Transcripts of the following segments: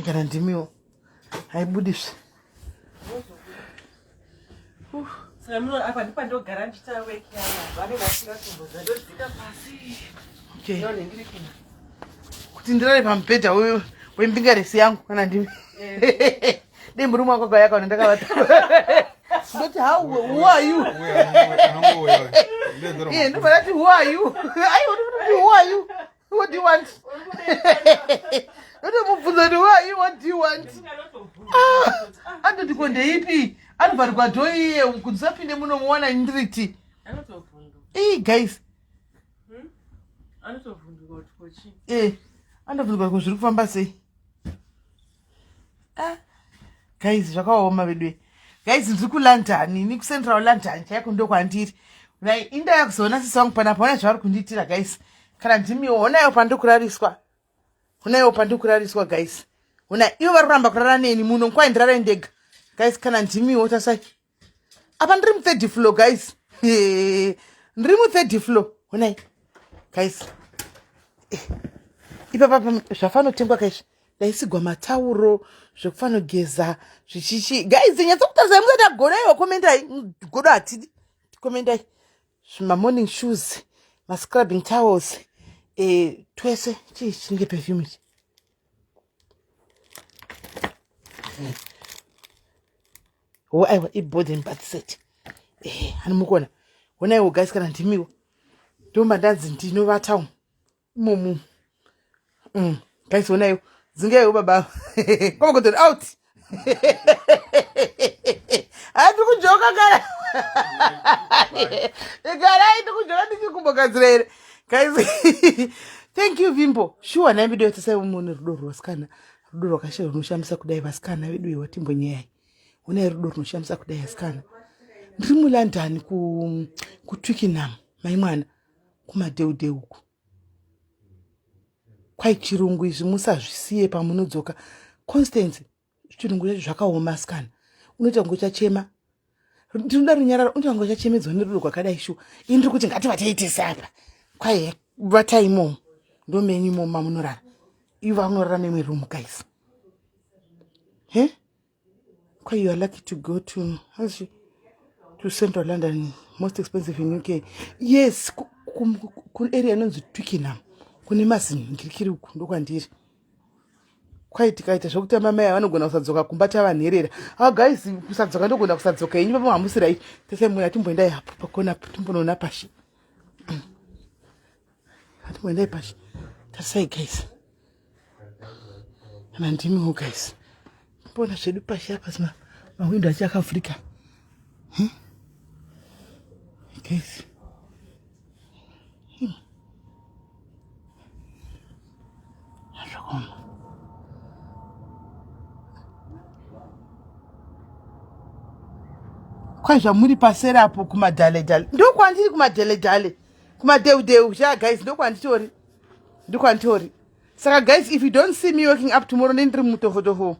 kana ndimiwo haibudiswe apa ndipo ndogara ndichitawekeavanevasikakumbozadozika pasi kuti ndirare pamubhedha uyu wembinga resi yangu kana ndimi eh. dei murume wako gayakaona ndakavati ndoti how who are you iye ndofanati who are you aiwoti who are you What do you want? Ndotomubvunza kuti why you what do you want? Ah, andoti ko ndeipi? Anovharigwa dho iye kuti usapinde muno muwana ndiriti. Ii guys. Hmm? Anotobvunduka kuti kochi. Eh, anobvunduka kuti zviri kufamba sei? ah, guys zvakaoma veduwe guys ndiri kulondoni ni kucentral londoni chaiko ndokwandiri nai inda yakuzoona sisi wangu panapa ona zvavari kundiitira guys kana ndimiwo onayo pandikurariswa onayo pandikurariswa guys ona ivo vari kuramba kurara neni muno nkwai ndirara ndega guys kana ndimiwo tasai apa ndiri muthird floor guys ndiri muthird floor honai guys eh, ipapa zvafanotengwa kaizvi ndaisigwa matauro zvekufanogeza zvichichi guys nyatsa kutarisai musati agonaiwa komendai godo hatidi komendai zvimamorning shoes mascrubbing towels e, twese chii chinenge pefumich wo aiwa ibody and bath set ehe ani mukona honaiwo guys kana ndimiwo ndomba ndanzi ndinovata umu imomu mm. guys honaiwo dzingewo baba komakotori out hati kujoka kana igarai tikujoka ndichikumbogadzira here guys thank you vimbo shuwa nai video yatosai umone rudo rwasikana rudo rwakashe runoshamisa kudai vasikana vedu iwa timbonyeyai unai rudo runoshamisa kudai asikana ndiri mulondon kutwickenham mai mwana kumadeude uku kwai chirungu izvi musazvisiye pamunodzoka constance chirungu chacho zvakaoma asikana unoita kunge uchachema ndinoda runyararo unoita kunge uchachemedzwa nerudo rwakadai shuwa ini ndiri kuti ngativateitese apa kwaiye vatai imomo ndomenyu imomo mamunorara ivo vanorara memwe room guys he Kwa you are lucky to go to how's she? to central london most expensive in uk yes kuarea inonzi twickenham kune mazinhingirikiri uku ndokwandiri kwai tikaita zvekuti amamai vanogona kusadzoka kumba tava nherera awa ah, guys kusadzoka ndogona kusadzoka yenyu papa hamusirai tese muna timboendai hapo pakona timbonoona pashi Hati mwendai pashi. Tarisai guys. Kana ndimiwo guys. Mbona zvedu pashi apa zina mawindow achi akavhurika. Hmm? Guys. Hmm. Zvakaoma. Kwai zvamuri paseri apo kumadhale dhale. Ndokwandiri kumadhale dhale. kumadeudeu sha guys ndokwanditori ndokwanditori saka guys if you don't see me waking up tomorrow ne ndiri mutofotofo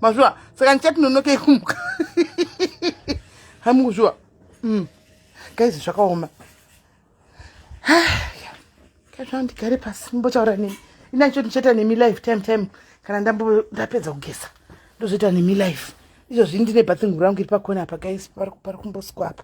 mazviwa saka ndichatinonoke kumuka hamukuzviwa mm. guys zvakaoma kaizva ndigare pasi mbotaura nemi inacho ndichaita nemi life time time kana ndambo ndapedza kugeza ndozoita nemi life izvozvi ndine bathing rangu iri pakona apa guys pari kumbosikwa apa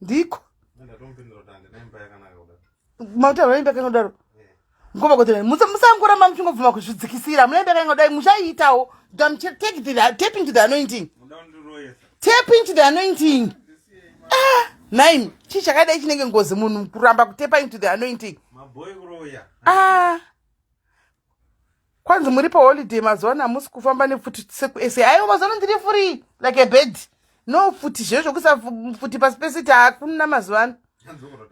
ndiko mautaura imba kanga kudaro mkoma kotera musangoramba muchingobvuma kuzvidzikisira mune imba kanga kudai muchaiitawo tap into the anointing tap into the anointing ah nine chii chakadai chinenge ngozi munhu kuramba kutepa into the anointing ah kwanzi muri paholiday mazuva ano hamusi kufamba nefuti sekusa aiwo mazuva ano ndiri free like a bed no futi zve zvokuisa futi pasi pesiti hakuna mazuva ano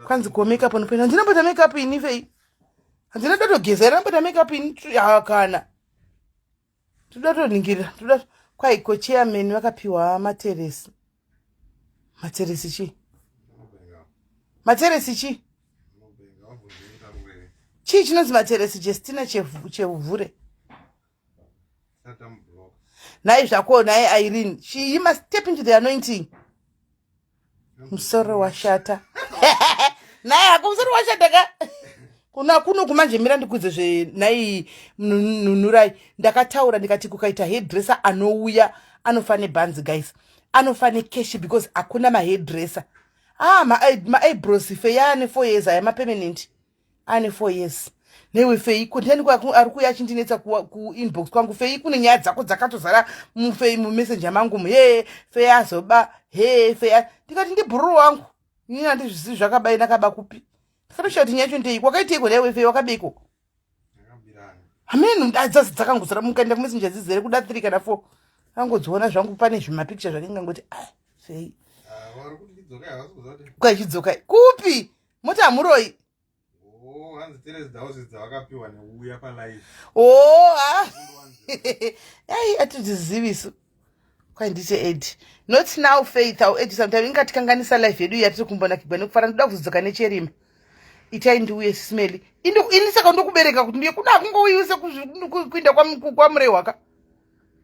kwanzi ko makeup anopenda handina mbota makeup ini fei handina toda togeza ira mbota makeup ini hakana toda toningirira toda kwaiko chairman vakapiwa materesi matseresi chii matseresi chii chii chinonzi matseresi jestina chevhure nhai zvako nhai irene she you must step into the anointing musoro washata nhai hako musoro washata ka kuna kuno kumanje mira ndikudze zvenai nunurai ndakataura ndikati kukaita hedresser anouya anofa nebhanzi guys anofane cash because hakuna mahairdresser ah maibros fe yaane four years aya mapermanent ane four years newe fei kondani ari kuya achindinetsa kuinbox kwangu fei kune nyaya dzako dzakatozara mufei mumessenger mangu muhee fei azoba hee fei ndikati ndibhururu wangu ini andizvisizi zvakabai ndakaba kupi ndikatoshaya kuti nyaya cho ndei kwakaiteiko newe fei wakabeiko hameno ndadzasi dzakangozara mukaenda kumesinja dzizere kuda three kana four angodziona zvangu pane zvimapicture zvake ngangoti a ah, sei kwachidzoka kupi moti hamuroi oh, o oh, ah. ai atidzizivisu kwai ndite ed not now faith au ed sometime ingatikanganisa life yedu yatiri kumbonakigwa nekufara ndoda kuzodzoka nechirima itai ndiuye sismeli ini saka ndokubereka kuti ndiye kuna akungouyiwi sekuinda kwamurehwaka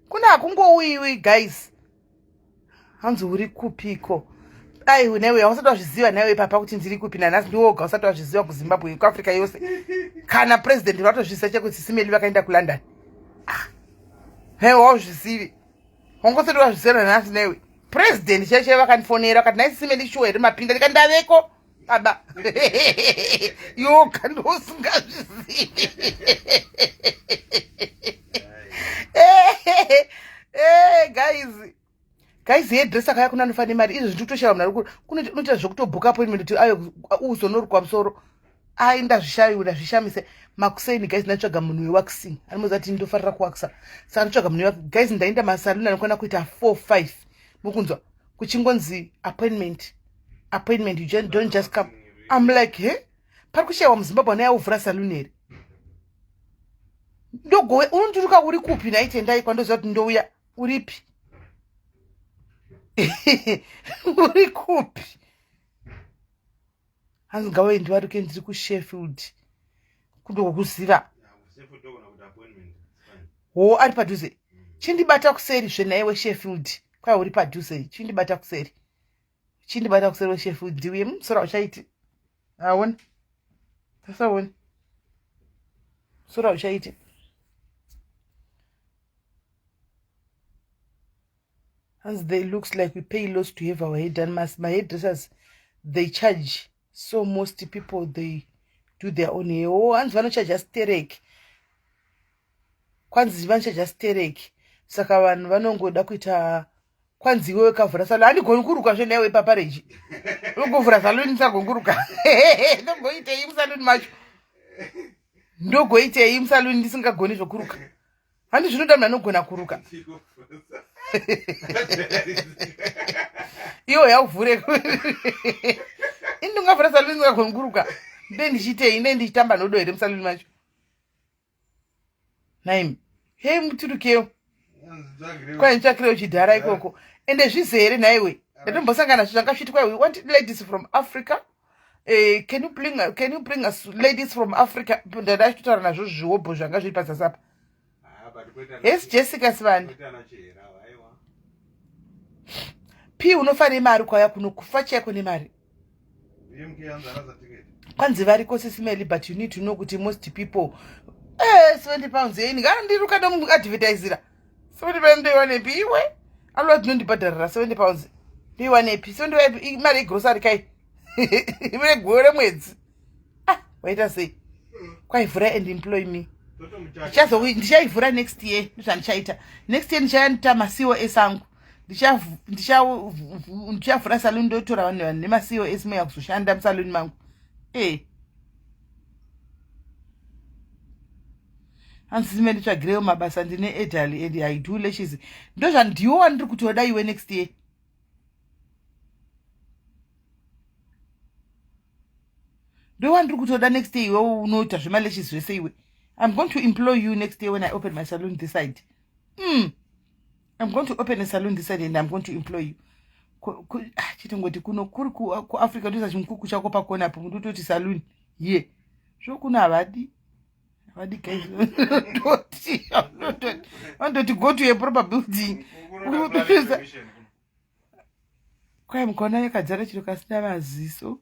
kuna akungouyiwi guys hanzi uri kupiko ai newe hausati wazviziva newe ipapa kuti ndiri kupi nanhasi ndiwoga usati wazviziva kuzimbabwe kuafrica yose kana president vatozvisa chekuti sisimeli vakaenda kulondon Hey, wauzvizivi wangosati wazvisera nhasi newe president chaichai vakandifonera vakati nai sime ndishuwa here mapinda ndika ndaveko baba yoka ndosingazvizivi eh, eh, eh, guys Guys, here dresser kaya kuna nofane mari. Izvo zvitutoshara mnari kuri. Kuna unoita zvekutobook appointment kuti ayo uzonorukwa musoro. Ai ndazvishayura zvishamise. Makuseni guys ndatsvaga munhu wewaxing. Anomuza kuti ndofarira kuwaxa. Saka ndatsvaga munhu wewaxing. Guys ndaenda masalon anokwana kuita 4 5. Mukunzwa kuchingonzi appointment. Appointment you just don't just come. I'm like, "He? Hey? Pari kushayiwa muZimbabwe ana yauvhura salon here? Ndogowe unondiruka uri kupi naitendai kwandoziva kuti ndouya. uripi uri kupi hanzi ngawaendi varuke ndiri kusheffield kundokuziva ho ari padhuze chindibata kuseri zvenaiwe sheffield kwai uri padhuze chindibata kuseri uchindibata kuseri weshefu ndiuye musora mm, uchaiti aona tasaona musora uchaiti hanzi they looks like we pay loss to have our head and my head dressers they charge so most people they do their own hair o oh, hanzi vanochaja stereki kwanzi vanochaja stereki saka vanhu vanongoda kuita kwanzi iwewe kavhura salo handigoni kuruka zve newe ipapareji unongovhura salo ndisagoni kuruka ndongoitei musaluni macho ndogoitei musaluni ndisingagoni zvokuruka handi zvinoda munhu anogona kuruka iwo yauvhure ini ndingavhura saluni ndingagoni kuruka nde ndichiitei nde ndichitamba nodo here musaluni macho naim hei mutirukewo kwai nditsvakirewo chidhara ikoko ende zvizere nhaiwe ndatombosangana zvizvanga zvichiitwa wati ladies from africa Eh, can you bring can you bring us ladies from Africa ndada achitaura nazvo zviwobho zvanga zviri pazasi apa yes Jessica Sibanda P unofa nemari kwaya kuno kufa chaiko nemari kwanzi variko sisimeli but you need to know kuti most people eh 70 pounds yei ndingandiruka ndomuadvertisira sekuti pano ndoiwanepi iwe alova dzinondibhadharira 70 pounds ndoiwanepi so ndoiwanepi imari yegrosari kai imene gweyo remwedzi ah waita sei kwaivhura and employ me ndichaivhura next year ndozvandichaita next year ndichaita macos angu ndichavhura saluni ndotora vanhu vanhu nemacos moya kuzoshanda musaluni mangu ee eh. hanzi menditsvagirewo mabasa ndine edali and i do lashes ndozvandiwo wandiri kutoda iwe next year ndo wandiri kutoda next year iwe unoita zvemaleshes zvese iwe i'm going to employ you next year when i open my saloon this side mm. I'm going to open a saloon this side and I'm going to employ you. Ah, Chitongoti kuno kuri ku Africa ndoisa chimukuku chako pakona apo muti utoti saloon here. Zvokuno havadi. Havadi guys. Toti. Vanototi go to a proper building. Kwai mukona yakadzara chiro kasina maziso.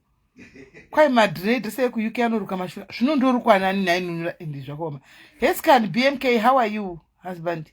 kwai madred se ekuuk anoruka mashura zvino ndorukwanani nhainunura ende zvakaoma hescan bmk how are you husband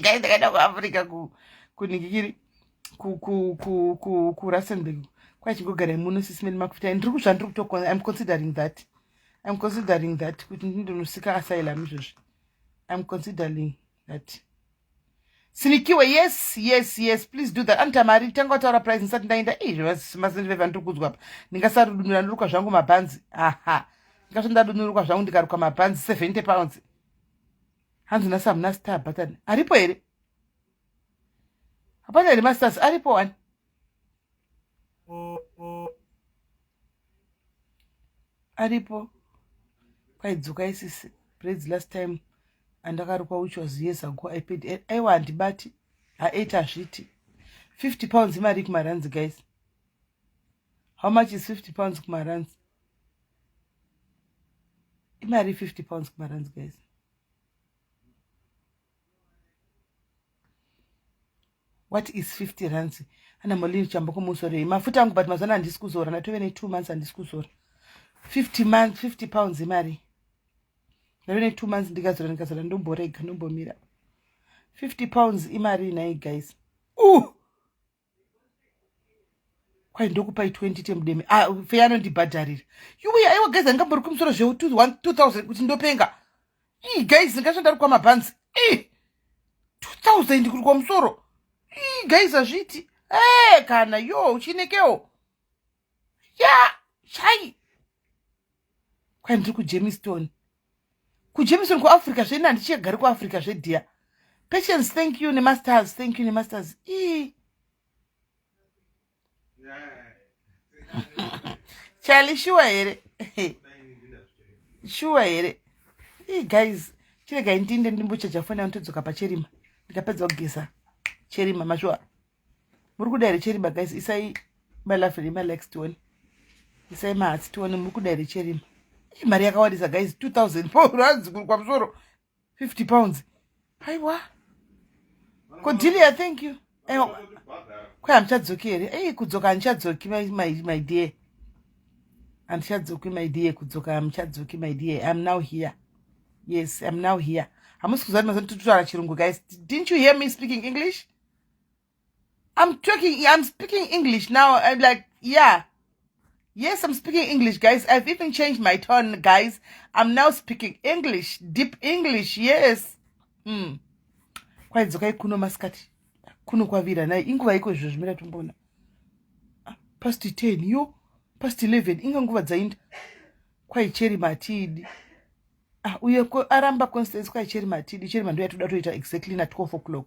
gai ndakaenda kuafrica kunikikiri kurustenburg kwachingogarai muno sisimeni makuita ndiri kuzvandiri kutokona im considering that im considering that kuti ndindonosika asylum izvozvi im considering that sinikiwe yes yes yes please do that anoti amari tanga wataura price ndisati ndaenda izvemasiniveva ndiri kudzwa pa ndingasarudunura ndiruka zvangu mabhanzi aha ndingasati ndadunuruka zvangu ndikaruka mabhanzi seventy pounds hanzi nhasi hamuna star button aripo here hapana here masters aripo wani aripo kwaidzoka isisi braids last time andakarukwa which was years ago i paid aiwa handibati ha8 hazviti 50 pounds imari kumaranzi guys how much is 50 pounds kumarands imari 50 pounds kumarands guys what is 50 rands ana molini chamba kumusorei mafuta angu but mazana handisi kuzora ndatove ne two months handisi kuzora 50 months 50 pounds imari ndave ne two months ndikazora ndikazora ndomborega ndombomira 50 pounds imari nhai guys uh! kwai ndokupai 20 temudeme ah, fe anondibhadharira yuwi aiwa guys andingambori kumusoro zveu 2000 kuti ndopenga ii guys ndingazvandari kwamabhanzi ii 2000 kuri kwamusoro ii guys hazviiti ee eh, kana yo uchinekewo ya chai kwai ndiri kujemiston kujemiston kuafrica zveini handichigari kuafrica zvedhiya patience thank you nemasters thank you nemasters ii chali shuwa here shuwa here ii guys chiregai ndinde ndimbochaja foni yangu todzoka pacherima ndikapedza kugeza cherima mashuwa muri kuda here cherima guys isai malafi nemalikes tione isai mahatsi tione muri kuda here cherima imari yakawandisa guys 2000 pound anzikuru kwamusoro 50 pounds aiwa kodilia thank you kwe handichadzoki here ei kudzoka handichadzoki my dear handichadzoki my dear kudzoka handichadzoki my dear iam now here yes iam now here hamusi kuziva ndi mazani titutaura chirungu guys didn't you hear me speaking english I'm talking, I'm speaking English now. I'm like, yeah. Yes, I'm speaking English, guys. I've even changed my tone, guys. I'm now speaking English, deep English. Yes. Hmm. Kwaidzokai kuno masikati. Kuno kwavira naye inguva iko izvo zvimira tombona. Ah, past 10 yo, past 11 inga nguva dzainda. Kwaicheri matidi. Ah, uye aramba Constance kwaicheri matidi. Cheri mandu yatoda toita exactly na 12 o'clock.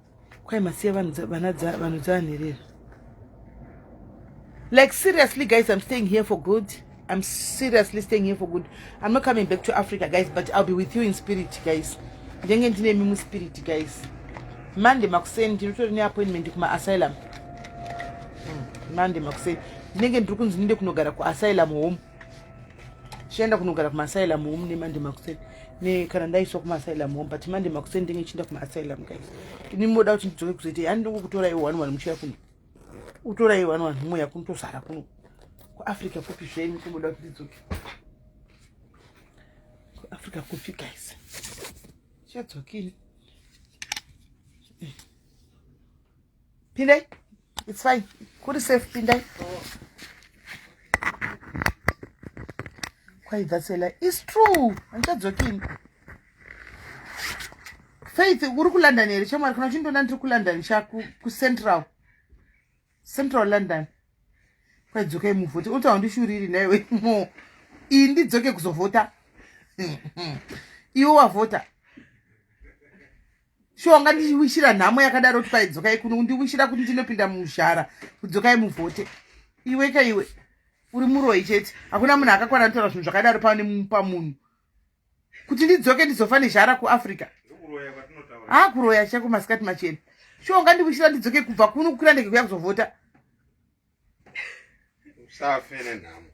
kwai masiya vanhu dzavanherera like seriously guys i'm staying here for good i'm seriously staying here for good i'm not coming back to africa guys but i'll be with you in spirit guys ndenge ndinemi muspirit guys monday makuseni ndinotori neappointment kumaasylum hmm, monday makuseni ndinenge ndiri kunzi ndinde kunogara kuasylum home chienda kunogara kumaasylum home nemande makuseni ne kana ndaiswa kumaasylum home but mande makuseni ndenge chienda kumaasylum guys ini moda kuti ndidzoke kuzoita yani ndongo kutora iwo one one muchiya kuno utora iwo one one humwe yakunotozara kuno kuafrica kupi zvenyu kumoda kuti ndidzoke kuafrica kupi guys chadzokini pindai It's fine. Kuri safe pindai. Kwai that's a lie. It's true. Andichadzokini. Faith uri ku London here chamwari kana uchindoona ndiri ku London sha ku, ku Central. Central London. Kwai dzokai muvhote. Uta wandishuriri naiwe. Mo. Iyi ndidzoke kuzovhota. Iwe wavhota. shuwa ungandiwishira nhamo yakadaro kuti paidzokai kuno undiwishira kuti ndinopinda muzhara kudzokai muvhote iwe ka iwe uri muroyi chete hakuna munhu akakwana nitaura zvinhu zvakadaro panemupa munhu kuti ndidzoke ndizofa nezhara kuafrica haa kuroya chako masikati machena shuwa ungandiwishira ndidzoke kubva kuno kukwira ndege kuya kuzovhota usafe nenhamo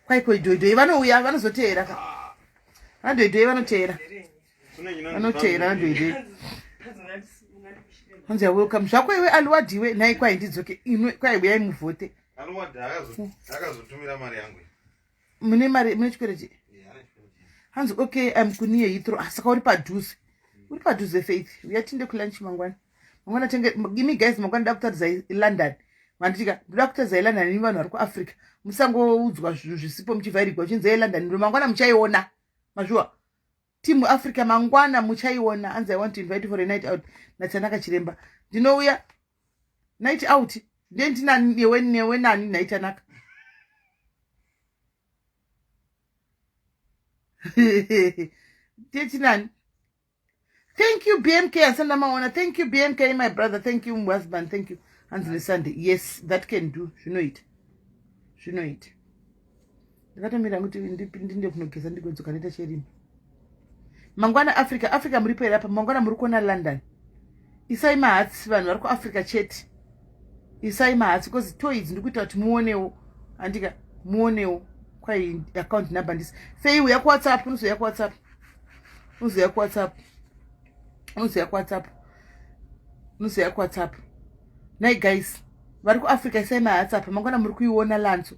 kwaiko idhoidhoi vanouya vanozoteera ka vandoidhoi vanoteera vanoteera vandoidhoi hanzi awelcome zvako iwe aliwadiwe nhai kwai ndidzoke inwe kwai uyai muvhote aliwadi akazotumira mari yangu mune mari mune chikwereti hanzi okay im kuniye hitro ah, saka uri padhuze uri padhuze faith uya tinde kulunch mangwana mangwana tenge imi guys mangwana da kutaridza ilondon manditika ndoda kutaridza ilondon ini vanhu vari kuafrica musangoudzwa zvinhu zvisipo muchivhairigwa uchinzi ilondon ndo mangwana muchaiona mazviwa team africa mangwana muchaiona hanzi i want to invite for a night out natanaka chiremba ndinouya night out ndiye ndinani newe newe nani naitanaka ndiye tinani thank you bmk asanda maona thank you bmk my brother thank you husband thank you hanzi nesunday yes that can do zvinoita zvinoita ndakatomira kuti ndinde kunogeza ndigodzoka ndoita cherima mangwana africa africa muripo here apa mangwana muri kuona london isai mahatsi vanhu vari kuafrica chete isai mahatsi bcause toids ndikuita kuti muonewo andika muonewo kwai account number ndisi fei uya kuwhatsapp unozouya kuwhatsapp unozouya kuwhatsapp unozouya kuwhatsapp unozouya kuwhatsapp nai guys vari kuafrica isai mahatsi apa mangwana muri kuiona lanzo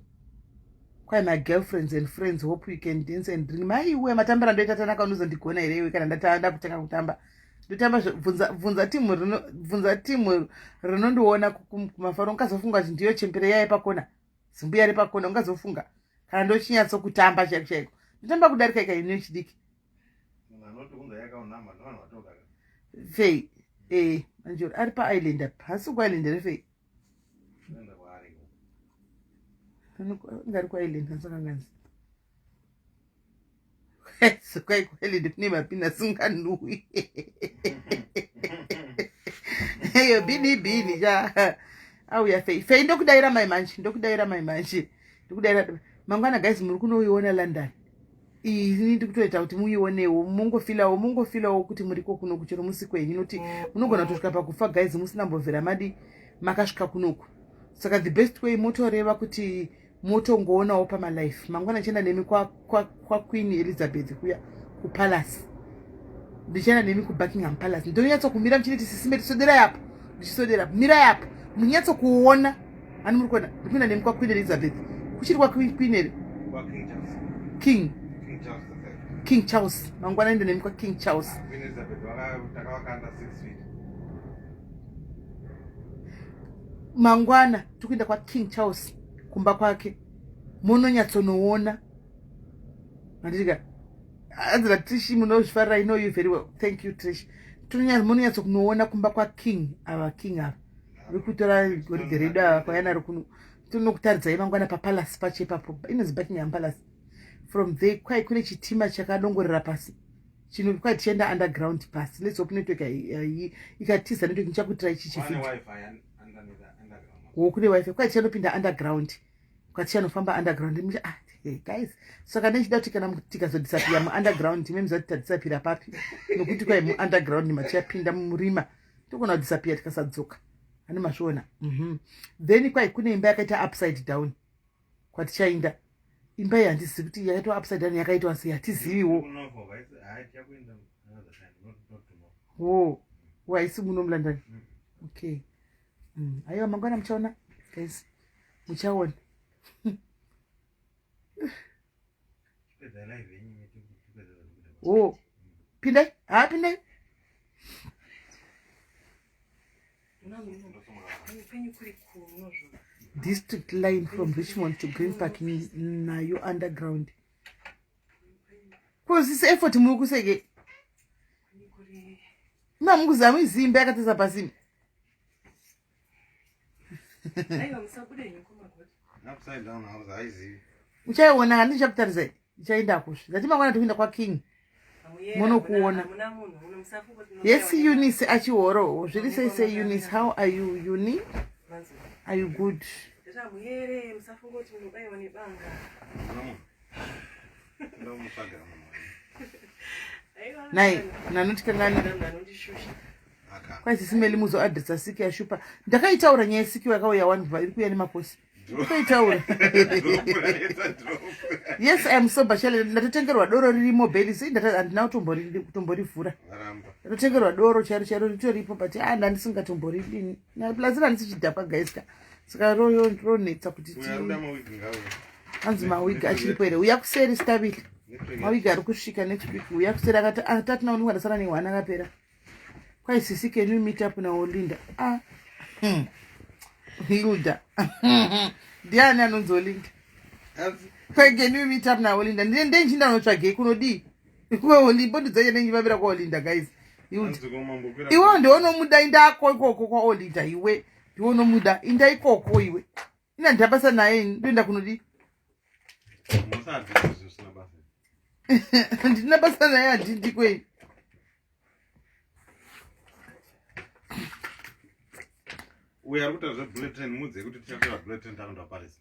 Kwai my girlfriends and friends hope you can dance and drink. Mai iwe matambira ndoita tanaka unozondigona here iwe kana ndatanda kutanga kutamba. Ndotamba bvunza bvunza timu rino bvunza timu rinondiona kumafaro ungazofunga kuti ndiyo chembere yaye pakona. Zimbuya re pakona ungazofunga kana ndochinyatso kutamba chaiko chaiko. Ndotamba kudarika ika ine chidiki. Anoti unza yakaonama ndovanhu vatoka. Fei. Eh, manjoro ari pa island apa. Hasi ku island re fei. ngari kwailenda sakanganzi kwai kwailenda kune mapinda singanui eyo bini bini cha auya fei fei ndokudaira mai manje ndokudaira mai manje ndokudaira mangwana guys muri kunoiona london iyi ini ndi kutoita kuti muionewo mongofilawo mongofilawo kuti muriko kuno kuchero musi kwenyu inoti munogona kutosvika pakufa guys musina mbovhera madi makasvika kunoku saka the best way motoreva kuti motongoonawo pamalife mangwana ndichaenda nemi kwaqueen elizabeth kuya kupalace ndichaenda nemi kubuckingham palace ndinonyatsokumira muchiti tisisime tisoderai apo ndichisodera mirai apo munyatso kuona ani muri kuona ndikuenda nemi kwaqueen elizabeth kuchiri kwaqueen here king king charles mangwana ende nemi kwaking charles mangwana tiri kuenda kwaking charles kumba kwake mononyatsonoona mandirika hanzi natrish munozvifarira ino you very well thank you trish munonyatso kunoona kumba kwaking ava king ava vekutora goridhe redu ava kwayanaro kuno tinokutaridzai mangwana papalace pacho ipapo inonzi buckingham palace from there kwai kune chitima chakadongorera pasi chino kwai tichienda underground pasi let's hope network ikatiza network ndichakutira ichi chifiti wo kune wifi kwai tichanopinda underground Katia anofamba underground mucha ah hey guys saka nechida kuti kana tikazodisapira muunderground ime mzati tadisapira papi nokuti kwai muunderground matichapinda mumurima togona kudisapira tikasadzoka ani mazviona mhm. then kwai kune imba yakaita upside down kwatichainda imba iyi handizivi kuti yakaitwa upside down yakaitwa sei hatiziviwo wo waisi muno mulandani okay mm, aiwa mangwana muchaona guys muchaona oh pindai haa pindai district line from richmond to green park nayo underground kozisi effort muri kuseke mamukuzama izimba yakatesa pasini uchaiona handi ndichakutarisai ndichaenda kusvi zati mangwana tikuenda kwaking munokuona yes eunice achihoro zviri sei se eunice how are you uni are you good nai nanotikanganira kwai sisimeli muzo adresa siki yashupa ndakaitaura nyaya yesiki yakauya wani bva iri kuya nemakosi ndakaitaura yes iam sober challenge ndatotengerwa doro ririmo beli sei handina kutomborivhura ndatotengerwa doro chairo chairo ritoripo but a ah, ndandisingatomboridini plus randisi chidhakwa gaiska ah, saka royo ronetsa kuti hanzi mawigi achiripo here uya kuseri stabili mawigi ari kusvika next week uya kuseri akati atatina ah, unenge ndasara nehwana akapera kwai sisi can you meet up now linda ah hmm. hilda ndiani anonzi olinda kwai can you meet up now olinda ndine ndenchinda unotsvagei kunodii kuwe olimbo ndidzaye ndenyivavira kwaolinda guys hilda iwe ndionomuda indako ikoko kwaolinda iwe iwe unomuda inda ikoko iwe ina ndabasa naye ndoenda kunodi ndina basa naye handindi kweni uyo ari kuita zvebulletin mudze kuti tichatora bulletin tanoda parisi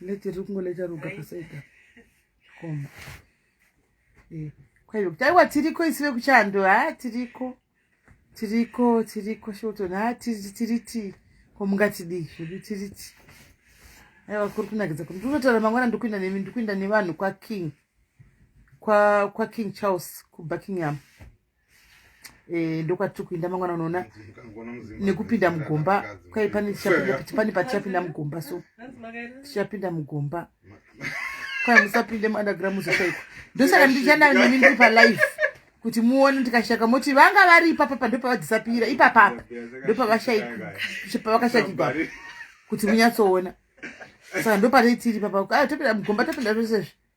Leti riri kungoleta roga paseka koma eh, kwaive kuti aiwa tiriko isi vekuchando ha tiriko tiriko tiriko shoton ha tiri tiriti ko mungatidii zvedu tiriti aiwa kuri kunakidza kuti ndinotaura mangwana ndikuinda nemi ndikuinda nevanhu kwaking kwaking charles kubuckingham Eh, ndokwati tiri kuinda mangwana unoona nekupinda mugomba kwai pane pane patichapinda mugomba so tichapinda mugomba kwai musapinde muunderground muzotaikwa ndosaka ndichananimi ndiri palive kuti muone ndikashaka moti vanga vari ipapa pa ndopavadisapira ipapapa ndopavakashakigwa kuti munyatsoona saka ndopatei tiri papa ah, topinda mugomba topinda zvesezvi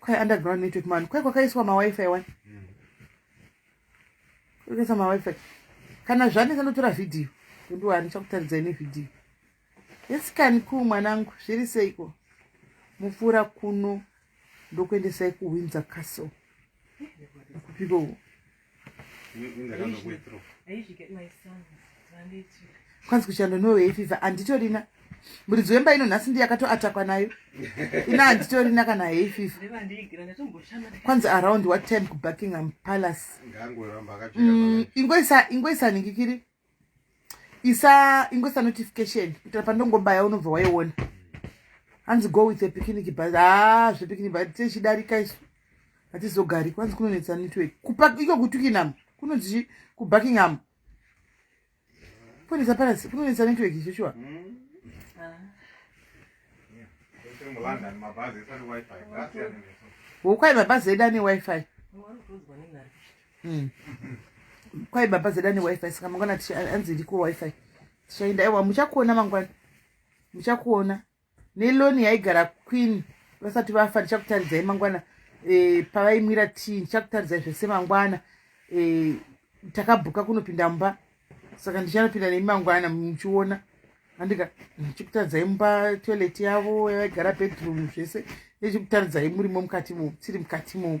Kwai underground network man. Kwai kwakaiswa ma wifi wani. Kwakaiswa ma wifi. Kana zvane sanotora video. Ndu ari chakutaridza ine video. Yes can ku mwanangu zviri seiko. Mupfura kuno ndokuendesai ku Windsor Castle. Kupiko. kwanzi kushanda nowei fifa handitorina muridzi wemba ino nhasi ndiyakatoatakwa nayo ina handitorina kana hei fifa kwanzi around what time kubuckingham palace mm, ingoisa ningikiri isa ingoisa notification kuitira pandongobaya unobva waiona hanzi go with apicnic bus haa ah, zvepicnic bus tichidarika isu hatizogari kwanzi kunonetsa network iko kutukinham kunonzi kubuckingham kunonetsa parasi kunonetsa network icho shuwa hokwai mabhazi edu ane wifi mm. mm. kwai baba zeda newifi saka mangwana anzi ndiko wifi tichaenda ewa muchakuona mangwana muchakuona neloni yaigara queen vasati vafa ndichakutaridzai mangwana e, pavaimwira tii ndichakutaridzai zvese mangwana e, takabhuka kunopinda mumba saka ndichanopinda nemi mangwana muchiona andika ndichikutaridzai mumba toilet yavo yavaigara bedroom zvese ndichikutaridzai murimo mukati mo tiri mukati mo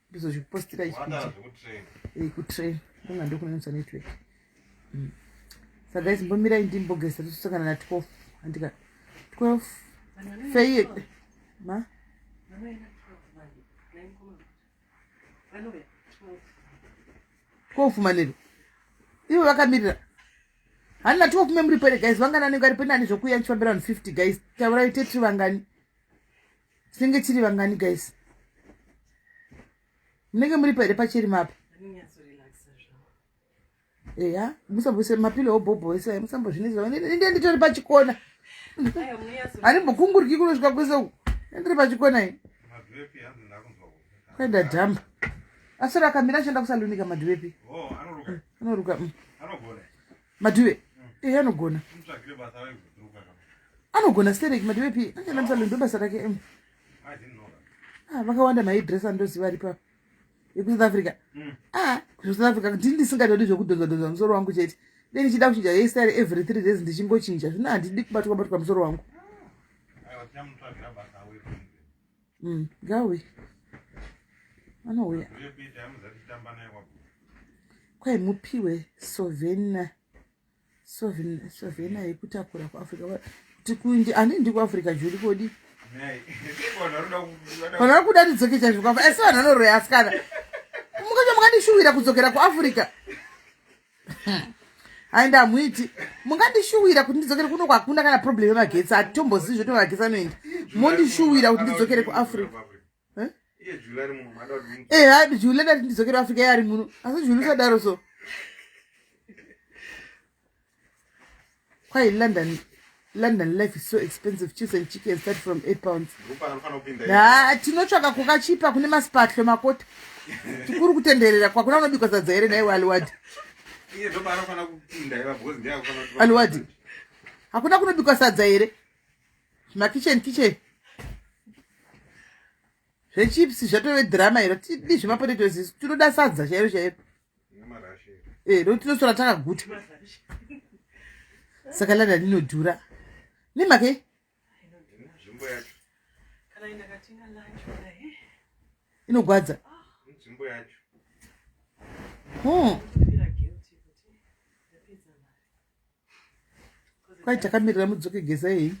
ndizozvipostira izvikutrain kunga ndokunanisa network mm. sa guys mbomirai ndimbogesa tosangana na 12 andika 12 feye ma kofumanero ivo vakamirira handina tikokume muri pere guys vangani anenge ari penani zvokuya ndichifambira vanhu 50 guys taurai tetri vangani tinenge tiri vangani guys munenge muri pahere pacheri mapa eya musambose mapilo obhobho ese aya musambozvinizva inde nditori pachikona handimbokunguriki kunosvika kwese uku ndiri pachikona i kuenda dhamba asoro akamira achienda kusalunika madhuwepi oh, anoruka mm. madiwe ehe anogona anogona stereki madiwe pi anyanamisa londo basa rake em ah, vakawanda maidress andoziva ari pa ekusouth africa mm. ah, kusouth africa ndini ndisingatodi zvekudhonzadhonza musoro wangu chete be ndichida kuchinja hestyle every three days ndichingochinja zvino handidi kubatwa batwa musoro wangu mm, ngauye anouya kwai mupiwe sovena sovena yekutakura kuafrica kuti kuindi ani ndi kuafrica juri kodi vanhu vari kuda ndidzoke chaizvo asi vanhu vanoroya asikana mukacho makandishuwira kudzokera kuafrica and hamuiti mungandishuwira kuti ndidzokere kuno kwakuna kana problem yemagetsi hatitombozivi zvoto magetsi anoenda mondishuwira kuti ndidzokere kuafrica eh? eha eh, juli ndati ndidzokere africa yari muno asi juli usadaro so Kwai London London life is so expensive cheese and chicken start from 8 pounds. Ah, tinotsvaka kukachipa kune masipatlo makota. Tikuru kutenderera kwakuna unobikwa sadza here naiwe Aliwadi. Iye ndo baro kana kupinda iva because ndiye akufana kuti Aliwadi. Hakuna kunobikwa sadza here? Ma kitchen kitchen. zvechips zvatove drama iro tidi zvemapotatoes isu tinoda sadza chairo chairo e eh, no tinosora takaguta saka lada linodhura nemake eh? inogwadza hmm. kwai takamirira mudzoke geza iyi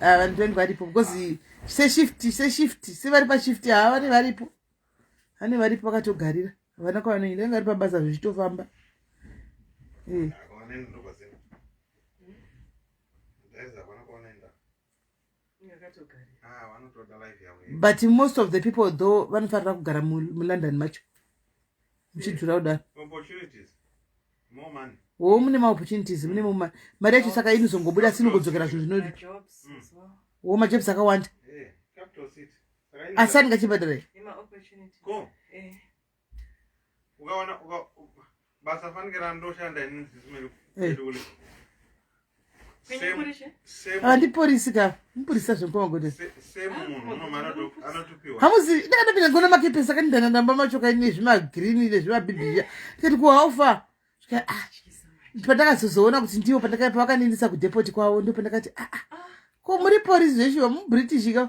ah, vanhu twenty varipo because seshift seshift sevari pashift haa vane varipo vane varipo vakatogarira havana kwavanoenda vanga vari pabasa zvichitofamba eh. Ah, but most of the people though vanofanira kugara mulondon macho muchidzura kudaro wo mune maopportunities mune muma mari yacho saka inozongobuda sinongodzokera zvinhu zvinodi wo majobs akawanda asani ngachibhadharai ukaona basa fanike randoshanda ini handiporisi eh. ah, ka mupurisa zvemuahamuzi ndakatopinda ngona makepesa kani ndananamba macho kai nezvimagreen nezvimabibia ndikati kuhaufa ah, pandakazozoona kuti ndivo pandakapavakanendisa kudepoti kwavo ndo pandakati aa ah, ko muri porisi zveshuwa mubritish ka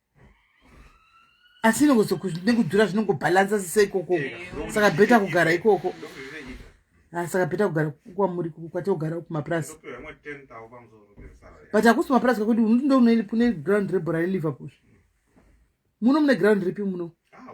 asi nekudhura zvinongobhalansa sise ikoko saka bheta kugara ikoko ah, saka bheta kugara kwamuri kwatogara kumapurasi but hakusi mapurasi kakuti unotindo une ground rebhora reliverpool muno mune ground ripi muno ah,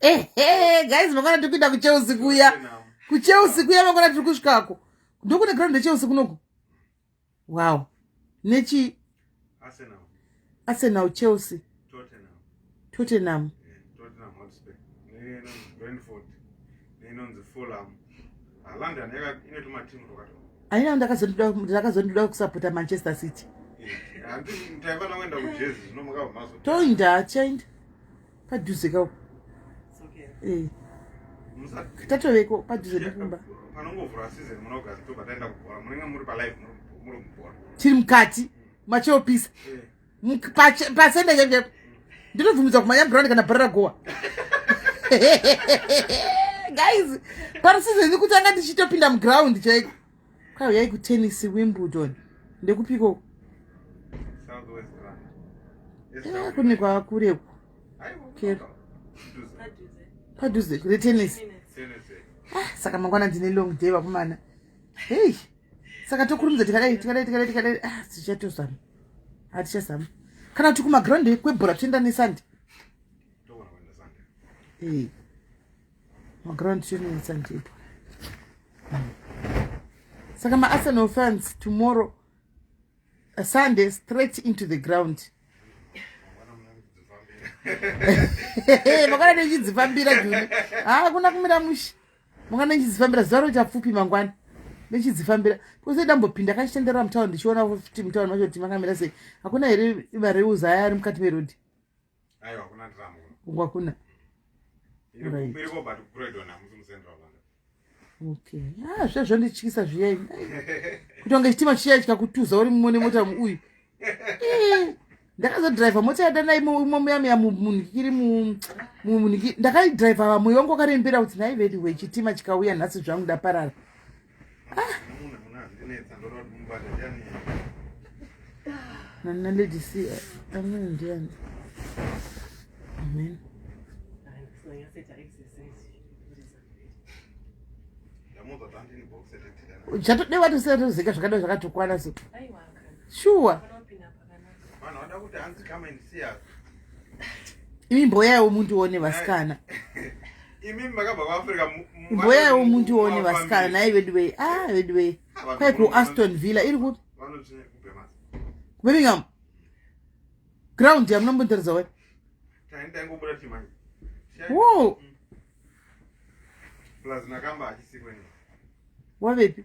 ehe guys makona tiri kuenda kuchelsea kuya kuchelsea kuya makona tiri kusvikako ndokune ground yechelsea kunoku wow nechi arsenal chelsea tottenham aina ndakazondoda kusapota manchester city toinda chainda padhuze ka eh. tatoveko padhuze nekumba tiri mukati macheopisa eh. pasenda yenge ndinobvumidza kumanya brown kana bhara ragowa guys parisizeni kuti anga ndichitopinda muground chaiko kwauyai kutennis wimbledon ndekupiko eh, kune kwakureku padhuze retennis ah, saka mangwana ndine long day vakomana hei saka tokurumidza tikadai tikadai tikadai tikadai ah, tichatozama hatichazama kana kuti kumaground kwebhora toenda nesande maground children sandiitwa saka maarsenal fans tomorrow a sunday straight into the ground makana nechidzifambira juni haa kuna kumira mushi makana nechidzifambira zuva ro chapfupi mangwana nechidzifambira kose dambopinda kachitenderera mutaun ndichiona kuti mutaun macho kuti makamira sei hakuna here mareuza aya ari mukati merodi Aiwa hakuna drama kuno. Uko hakuna. Right. Iri koba tukuredwa na musi musendwa banga. Okay. Ah, zvazvo ndichikisa zviya ini. Kutonga chitima chiya chika kutuza uri mumwe nemota uyu. Eh. Ndakazo driver mota yada nayi mumwe muya muya munhu kiri mu munhu ndakayi driver vamwe wangu akarembera kuti nayi vedi we chitima chikauya nhasi zvangu ndaparara. Nana lady see amweni ndiani amen uchatodewa tiserizika zvakadai zvakatukwana so shuwa imi mboyaiwo mundione vasikana mboyaiwo mundione vasikana nai veduwei a ah, veduwei ah, kwai kuaston villa iri kupi kubirmingham ground yamunombondiratidza wai wo wavepi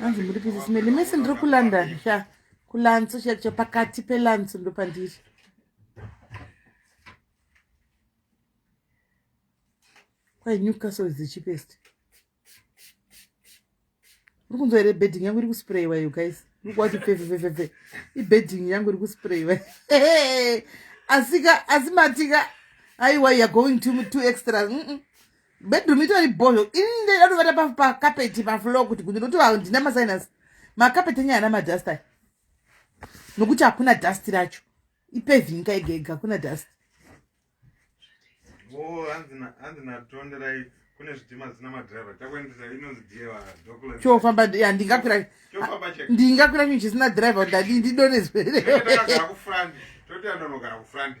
hanzi muri bhizisimeni mese ndiri kulondon sha kulantso chacho pakati pelantso ndopandiri kwai newcastle is the cheapest uri kunzwa here bedding yangu iri kusprayiwa yo guys uri kuwati pefefefefe ibedding yangu iri kusprayiwa asika asi matika aiwa youare going to, to extra mm -mm. bedroom itori bhozho ini ndatovata pakapeti paflow kuti kuti ndokuti vanhu ndina masinance makapeti enye ana madust ayo nokuti hakuna dust racho ipevinka ega ega hakuna dust chofamba ya ndingakwira ndingakwira chinhu chisina driver ndadii ndidonezwereakufurandiotandonogara kufurandi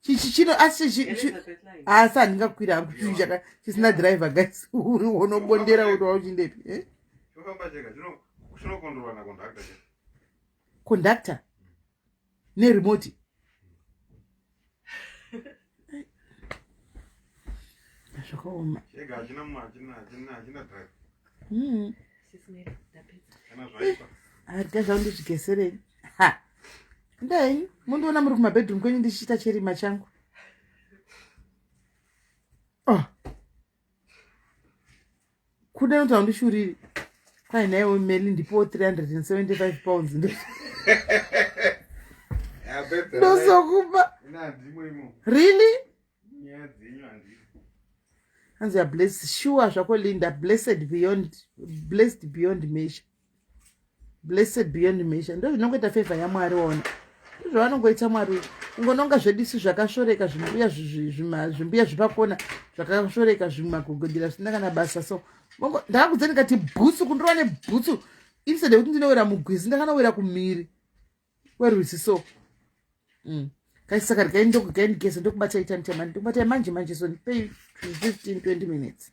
chichichino asi asi handingakwira hangu chii chaka chisina driver guys uri unobondera uri wauchindepi eh? conductor neremoti zvakaoma mm. adya zvangu ndizvigeserei ha ndai mundiona muri kumabedroom kwenyu ndichiita cherima changu oh. kuda noti handishuriri kwai naiwo meli ndipowo 375 pounds ndosokupa really nyaya dzenyu handii hanzi ya blessed sure zvako linda blessed beyond blessed beyond measure blessed beyond measure ndo zvinongoita favor yamwari waona ndozvavanongoita mwari ungononga zvedisu zvakashoreka zvimbuya zvimbuya zvipakona zvakashoreka zvimagogodira zvisina kana basa so ndakakudze ndikati bhutsu kundorova nebhutsu instead yekuti ndinowira mugwizi ndakanowira kumhiri werwizi so mm. kaisaka rikaindokugaindikesa ndokubata itani chamani ndokubata yamanje manje so ndipei 15 20 minutes